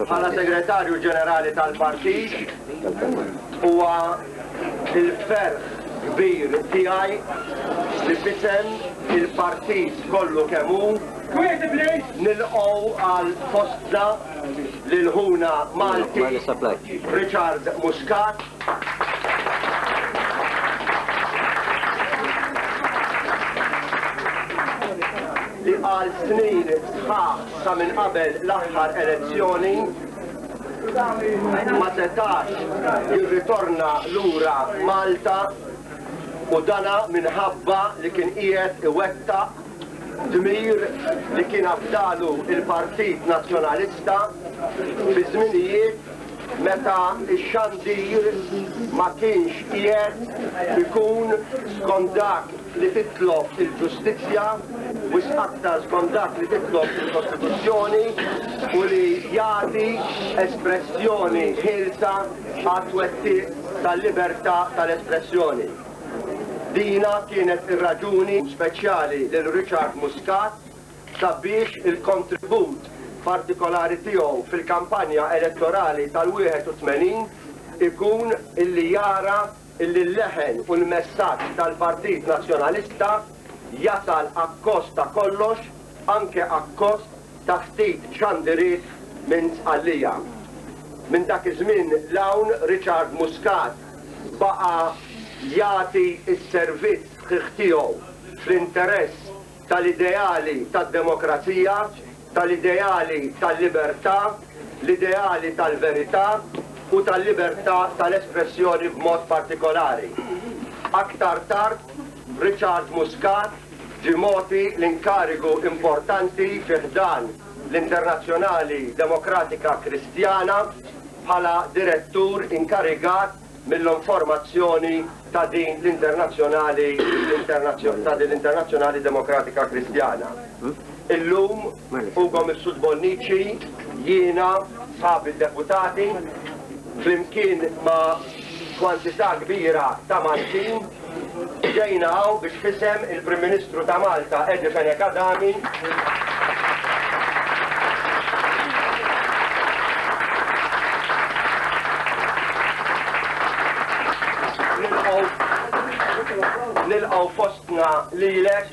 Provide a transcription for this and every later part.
Bħala Segretarju Ġenerali tal-Partit huwa il-ferħ kbir tiegħi li fisem il-partit kollu kemm hu nilqgħu għal fostna lil ħuna Malti Richard Muscat. li għal snin sħaħ sa minn qabel l-aħħar elezzjoni ma setax jirritorna lura Malta u dana minħabba li kien qiegħed iwettaq Dmir li kien afdalu l-Partit Nazzjonalista fi żminijiet meta x-xandir ma kienx qiegħed ikun skont dak li titlob il-ġustizzja, wisq aktar skont dak li titlob il-Kostituzzjoni u li jagħti espressjoni ħielsa għat-twettiq tal-libertà tal-espressjoni. Dina kienet ir-raġuni speċjali lil Richard Muscat sabiex il-kontribut partikolari tiegħu fil-kampanja elettorali tal-81 ikun li jara li l-leħen u l-messaġġ tal-Partit Nazzjonalista jasal akkost ta' kollox, anke akkost ta' ftit xandiriet minn Sqallija. Minn dak iż-żmien 'l hawn Richard Muscat baqa' jagħti s-servizz sħiħ tiegħu fl-interess tal-ideali tad-demokrazija, tal-ideali tal-libertà, l-ideali tal-verità u tal-libertà tal-espressjoni b'mod partikolari. Aktar tard Richard Muscat Ġie mogħti l-inkarigu importanti fi ħdan l-Internazzjonali Demokratika Kristjana bħala Direttur inkarigat mill-onformazzjoni ta' din l-Internazzjonali ta' din l-Internazzjonali Demokratika Kristjana. Illum, Ugo Mifsud Bonnici, jiena, sħabi d-Deputati, flimkien ma' kwantità kbira ta' Maltin, ġejna hawn biex f'isem il-Prim Ministru ta' Malta Eddie Fenech Adami nilqgħu fostna lilek,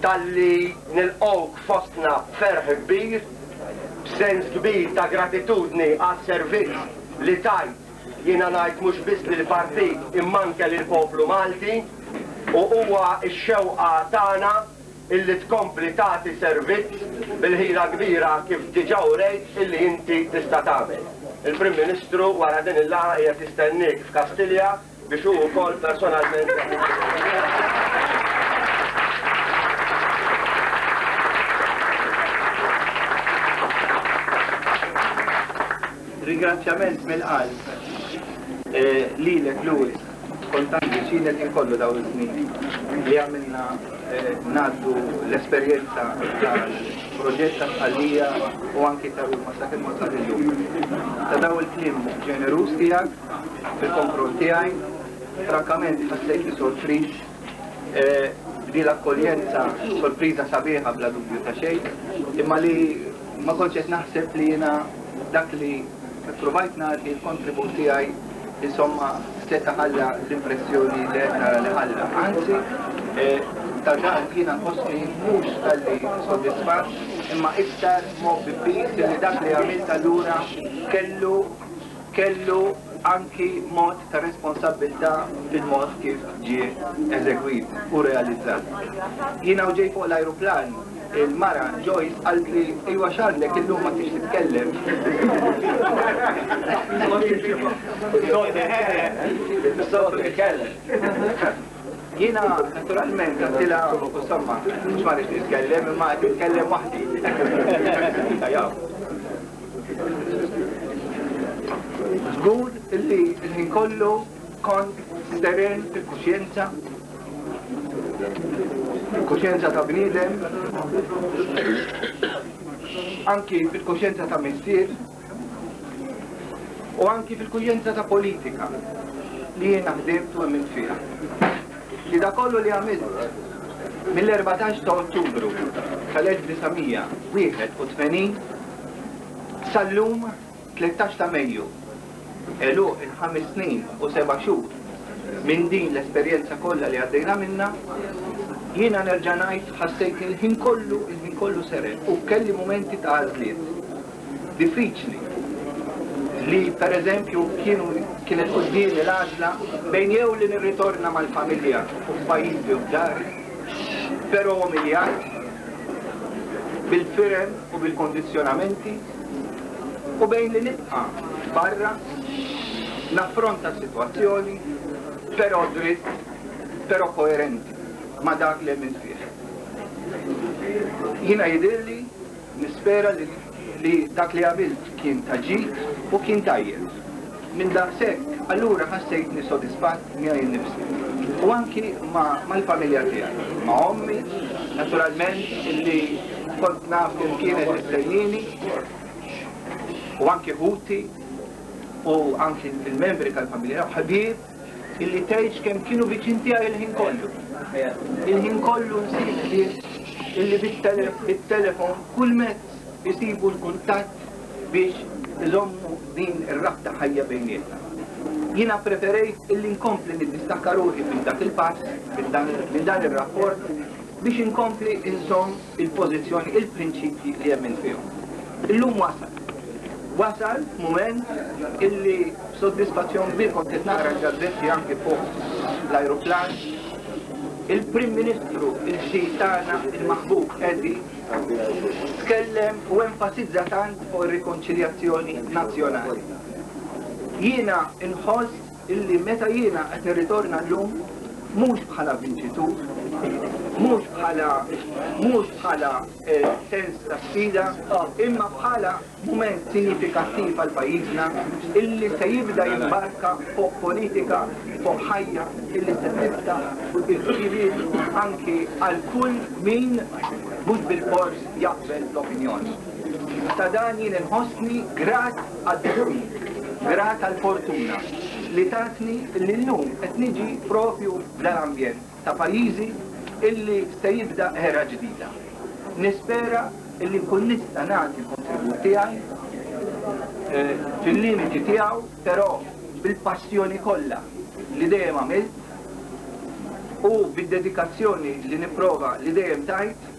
talli nilqgħuk fostna b'ferħ kbir, b'sens kbir ta' gratitudni għas-servizz li tajt, jiena ngħid mhux biss lill-Partit imma anke lill-poplu Malti u huwa x-xewqa tagħna illi tkompli tagħti servizz bil-ħila kbira kif diġà urejt illi inti tista' tagħmel. Il-Prim Ministru wara din il-laqgħa qiegħed jistenniek f'Kastilja. biex hu wkoll personalment Ringrazzjament mill-qalb eh, lilek Louis kontanti xilek inkollu daw iż-żmien li għamilna eh, naddu l-esperjenza tal-proġett ta' tqallija u anki ta' ruma sa' kemm wasal illum. Ta' daw il-klim ġenerus tiegħek fil-kontroll tiegħi, frankament ħassejt li sorpriż li l-akkoljenza sorpriża sabiħa bla dubju ta' xejn, imma li ma kontx qed naħseb li jiena dak li provajt nagħti l-kontribut tiegħi insomma seta' ħalla l-impressjoni li qed nara li ħalla. Anzi, eh, ta' dan jiena nħossni mhux tal-li soddisfat imma iktar mob biss li dak li għamilt allura kellu kellu anki mod ta' responsabbiltà fil-mod kif ġie eżegwit u realizzat. Jiena u ġej fuq l-ajruplan, il-mara Joyce qaltli, Ejwa x'għandek illum ma tridx titkellem? Soltu jitkellem. Soltu jitkellem. Jiena naturalment għattilha insomma mhux ma rridx nitkellem imma qed nitkellem waħdi. Żgur li l-ħin kollu kont steren il-kuxjenza il-kuxjenza ta' bniedem anki fil-kuxjenza ta' missier u anki fil-kuxjenza ta' politika li jiena ħdimt u għamilt fiha. Li da kollu li għamilt mill-14 ta' Ottubru tal-1981 sal-lum 13 ta' Mejju elu il-ħames snin u seba' xhur minn din l-esperjenza kollha li għaddejna minna jiena nerġa' ngħid ħassejtni l-ħin kollu il-ħin kollu seret u kelli mumenti ta' għażliet diffiċli li pereżempju kienu kienet quddiemi l-għażla bejn jew li nirritorna mal-familja u f'pajjiżi u f'dari, però umiljat, bil-firem u bil-kondizzjonamenti, u bejn li nibqa' barra, naffronta s-sitwazzjoni, però dritt, però koerenti ma' dak li emilt fih. Jiena jidhirli Nispera li dak li għamilt kien ta' ġid u kien tajjeb. Minn daqshekk, allura ħassejtni sodisfatt miegħi nnifsi u anki mal-familja tiegħi, ma' ommi, naturalment, illi kont naf kif kienet tistennini, u anki ħuti u anki l-membri tal-familja, ħbieb. Illi tgħidx kemm kienu viċin tiegħi il-ħin kollu. Il-ħin kollu nsib nies illi bit-telefon kull mezz isibu l-kuntatt biex iżommu din ir-rabta ħajja bejnietna. Jiena preferejt illi nkompli niddistakka ruħi minn dak il-pass, minn dan ir-rapport, biex inkompli inżomm il-pożizzjoni, il-prinċipji li jemmen fihom. Illum wasal. Wasal mument illi b'sodisfazzjon kbir kont qed naqra l-gazzetti anki fuq l-ajruplan il-Prim Ministru il-ġdid tagħna il-maħbub Edi tkellem u enfasizza tant fuq ir-rikonċiljazzjoni nazzjonali. Jiena inħoss illi meta jiena qed nirritorna llum mhux bħala vinċitur, mhux bħala mhux bħala eh, sens ta' sfida, imma bħala mument sinifikattiv għal pajjiżna illi se jibda jimbarka fuq politika fuq ħajja illi se tibda fuq il-ġiriet anki għal kull min mhux bil-fors jaqbel l-opinjoni. Ta' dan jien inħossni grat Għaddewni, grat għall-fortuna li tatni li llum qed niġi propju f'dan ambjent ta' pajjiżi illi se jibda era ġdida. Nispera illi nkun nista' nagħti l-kontribut tiegħi fil-limiti tiegħu però bil-passjoni kollha li dejjem għamilt u bid-dedikazzjoni li nipprova li dejjem tajt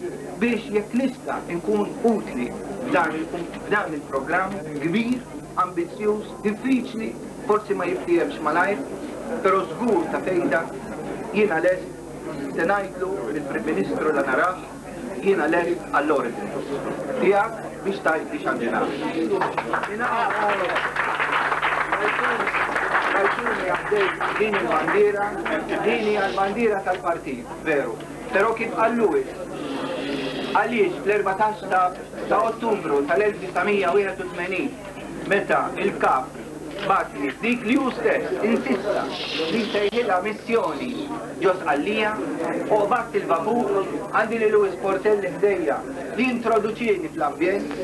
biex jekk nista' nkun utli f'dan il-programm kbir, ambizzjuż, diffiċli, forsi ma jiftiehemx malajr, però żgur ta' fejda, jiena lest, se ngħidlu lill-Prim Ministru la narah, jiena lest għall-ordni. Tiegħek biex tgħidli x'għandi nagħmel. Rajtuni għaddejt b'din il-bandiera, din hija l-bandiera tal-partit, veru. Però kif qal Lewis, għaliex fl-erbatax ta' Ottubru tal-1981, meta l-Kap bagħatni f'dik li hu stess insista li nsejħilha missjoni ġo Sqallija, u qbadt il-vapur, għandi lil Lewis Portelli ħdejja li jintroduċieni fl-ambjent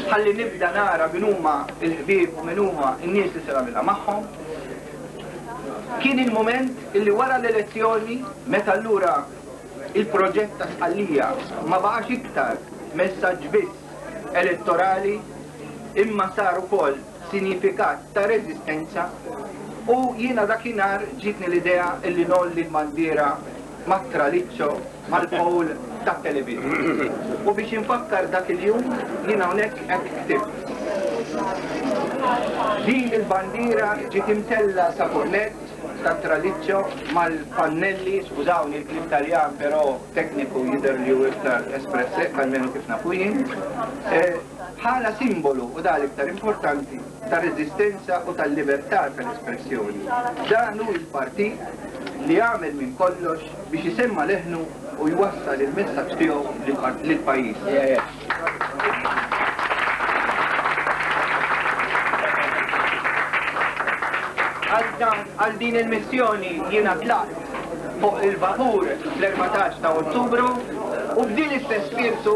ħalli nibda nara min huma l-ħbieb u min huma n-nies li se nagħmilha magħhom. Kien il-mument li wara l-elezzjoni meta allura il-proġett ta' Sqallija ma baqax iktar messaġġ biss elettorali imma sar ukoll sinjifikat ta' reżistenza u jiena dakinhar ġietni l-idea li ngħolli l-bandiera mat-traliccio mal-poll tat-television. U biex infakkar dak il-jum, jien hawnhekk hekk ktibt. Din il-bandiera ġiet imtellgħa sa fuq nett tat-traliccio mal-pannelli, skużawni l-kliem Taljan però tekniku jidher li hu iktar espresse, almenu kif nafu jien, bħala simbolu u dan l-iktar importanti tar-reżistenza u tal-libertà tal-espressjoni. Dan hu l-partit li għamel minn kollox biex isemma' leħnu u jwassal il-messaġġ tiegħu lill-pajjiż. Għal din il-missjoni jiena tlaqt fuq il-vapur fl-erbatax ta' Ottubru u b'din l-istess spirtu,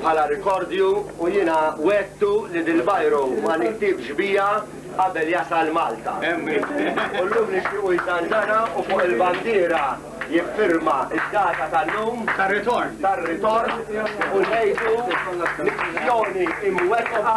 Bħala rikordju u jiena wegħdtu li dil-biro ma niktibx biha qabel jasal Malta. U llum nixtiequ jżanżana u fuq il-bandiera jiffirma d-data tal-lum tar-ritorn u ngħidu missjoni imwettqa